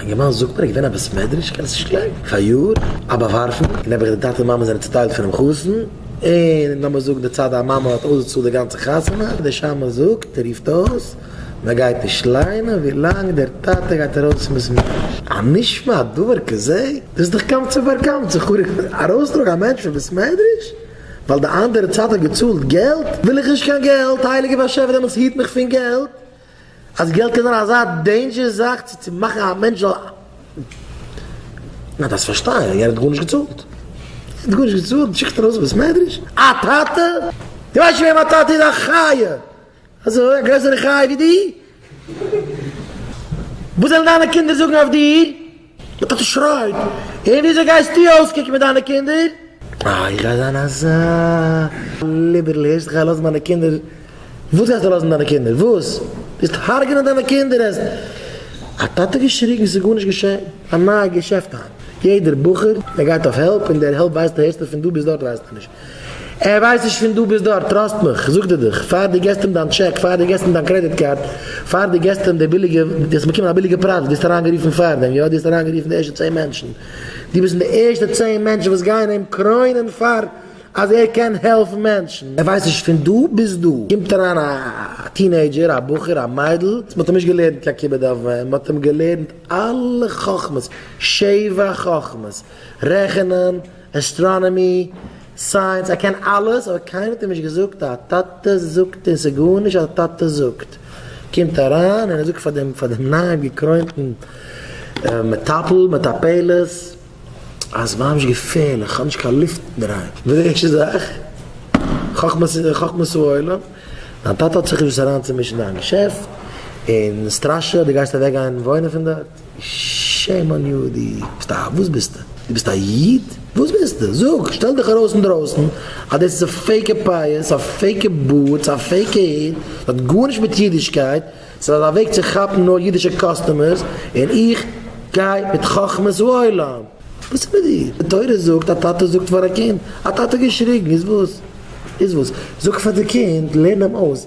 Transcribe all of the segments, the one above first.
אינגערמאן זאגט מיר, געווען א בית מדרש קענסט נישט גלייבן, פאריאר, א באווארפן, און נעבעך די טאטע און מאמע זענען צוטיילט פונעם חתן, און לאמיר זאגן די צד המאמע האט אויסגעצאלט די גאנצע חתונה, און דער שמש זאגט און רופט אויס, מען גייט נישט ליינען ווילאנג דער טאטע גייט ארויס פון בית מדרש. הנשמע דבר כזה? דאס איז דאך קמצא ובר קמצא, חרוב, ארויסטראגן א מענטש פון בית מדרש ווייל די אנדערע צד האט געצאלט געלט, וויל איך נישט קיין געלט, הייליגער באשעפער דעמאלטס היט מיך פון געלט, אז געלט קען זיין אזא דעינדזשער זאך צו צו מאכן א מענטש זאל מען דארף עס פארשטיין ער האט גארנישט געצאלט ער האט גארנישט געצאלט שיקסט ארויס בית מדרש א טאטע דו ווייסט שוין וועם א טאטע איז א חיה אזוי א גרעסערע חיה ווי דיר וואס וועלן דיינע קינדער זאגן אויף דיר. די טאטע שרייט, און וויאזוי גייסטו אויסקוקן מיט דיינע קינדער? אה, איך גיי זיין אזא ליבערל, הערסט איך גיי לאזן מיינע קינדער? וואס גייסטו לאזן דיינע קינדער? וואס? וועסט הרג'נען דיינע קינדער? העסט א טאטע געשריגן, ס'איז גארנישט געשען, א נייע געשעפט היינט, יעדער בחור ער גייט אויף העלפ, און דער העלפ ווייסטו הערסטו פון דא ביז דארט ווייסטו נישט, ער ווייסט נישט פון דו ביסט דארט, טראסט מיך, זאגט ער דיך, פאר דו געסט אים דיין טשעק, פאר דו געסט אים דיין קרעדיט קארד, פאר דו געסט אים די ביליגע, דו האסט באקומען א ביליגע פרייז, דו האסט אריינגערופן פארדעם, יא דו האסט אריינגערופן די ערשטע צען מענטשן, דו ביסט פון די ערשטע צען מענטשן וואס גייען אים קרוינען פאר אז ער קען העלפן מענטשן. ער ווייסט נישט פון דו ביסט דא, קומט אריין א טינעידזשער, א בחור, א מיידל, מען האט אים נישט געלערנט קיין כיבוד אב ואם, מען האט אים געלערנט אלע חכמות, שבע חכמות, רעכענען, אסטראנאמי, סייענס, איך קען אלעס, אבער קיינער האט אים נישט געזאגט א טאטע זאגט און ס'איז גארנישט אז א טאטע זאגט. קומט אריין און ער זאגט פאר דעם פאר דעם נייעם געקרוינטן מטפל, מטפלת, אז ממש געפערליך, איך האב נישט קיין לופט אין דער היים. די ערשטע זאך, חכמת חכמת העולם, דיין טאטע האט זיך געוואוסט אריינצומישן אין דיין געשעפט און סטראשען אז דו גייסט אוועקגיין וואוינען פון דארט. שעים אן יו, די ביסט א, וואס ביסטע? די ביסט א איד? וואס ביסטע? זאג! שטעל דיך ארויס אינדרויסן אז דאס איז א פעיקע פאות, א פעיקע בוטס, א פעיקע היט, עס האט גארנישט מיט אידישקייט, עס איז א וועג צו כאפן נאר אידישע קאסטומערס, און איך גיי מיט חכמת העולם! וואס איז מיט דיר? די תורה זאגט א טאטע זאגט פאר א קינד, א טאטע האט געשריגן, איז וואס? איז וואס? זאג פאר די קינד, לערן אים אויס,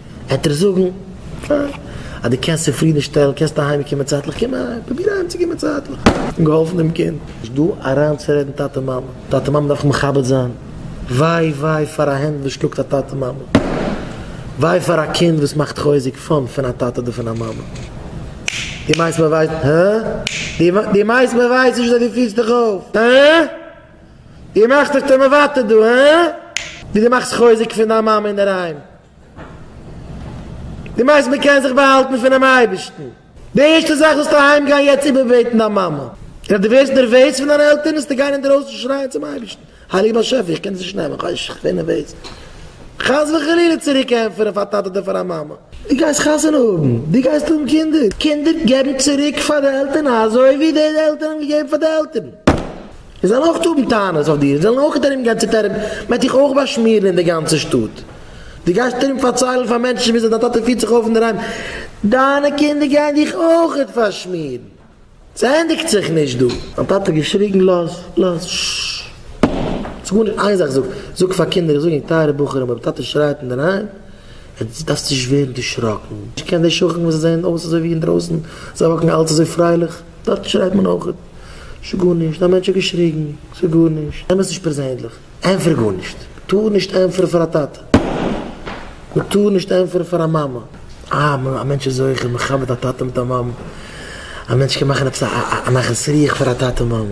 עט ער זאגן, פיין, אז דו קענסט צופרידן שטעלן, קענסטו אהיים קומען צייטליך, קום אהיים, פרוביר אהיים צו קומען צייטליך, און געהאלפן דעם קינד. נישט דא אריין צו רעדן טאטע מאמע, טאטע מאמע דארפן מכבד זיין, וויי וויי פאר א הענט וואס שלאגט א טאטע מאמע, וויי פאר א קינד וואס מאכט חוזק פאן פון א טאטע אדער פון א מאמע, דו מיינסט מען ווייסט, הא? דו מיינסט מען ווייסט נישט וויאזוי דו פירסט דיך אויף, הא? דו מאכסט דיך טמא וואטע דא, הא? ווי דו מאכסט חוזק פון דיין מאמע אינדערהיים. די מעשה מען קען זיך באהאלטן פונעם אייבערשטן. די ערשטע זאך זאלסטו אהיים גיין יעצט איבערבעטן דיין מאמע, און אז דו ווערסט נערוועז פון דיינע עלטערן זאלסטו גיין אינדערויסן שרייען צום אייבערשטן, הייליגער באשעפער איך קען דאס נישט נעמען, כ'ווער איך ווער נערוועז, חס וחלילה צוריק ענטפערן פאר א טאטע אדער פאר א מאמע. דו גייסט חתונה האבן, דו גייסט האבן קינדער, קינדער געבן צוריק פאר די עלטערן אזוי ווי די עלטערן האבן געגעבן פאר די עלטערן, זיי זאלן אויך האבן טענות אויף דיר, זיי זאלן אויך ארום גיין צוטערען, מען וועט דיך אויך באשמירן אין די גאנצע שטאט. דו גייסט ארום פארציילן פאר מענטשן וויאזוי דיין טאטע פירט זיך אויף אינדערהיים, דיינע קינדער גייען דיך אויכעט פארשמירן, ס'ענדיגט זיך נישט דא. מיין טאטע האט געשריגן, לאז, לאז, ששש, ס'איז גארנישט, איין זאך זאג, זאג פאר קינדער, איך זאג ענק טייערע בחורים, אויב טאטע שרייט אינדערהיים, עטס דארפטס נישט ווערן דערשראקן, איך קען די שכן וואס זיי זעען אויס אזוי ווי אינדרויסן, זיי וואקן אלץ אזוי פרייליך, דארט שרייט מען אויכעט, ס'איז גארנישט, א מענטש האט געשריגן, ס'איז גארנישט, נעם עס נישט פערזענליך. ענטפער גארנישט. מ'טאר נישט ענטפערן פאר א טאטע. מ'טאר נישט ענטפערן פאר א מאמע. אה, א מענטש איז זוכה, מ'כבד א טאטע מיט א מאמע. א מענטש קען מאכן עפעס א נחת רוח פאר א טאטע מאמע.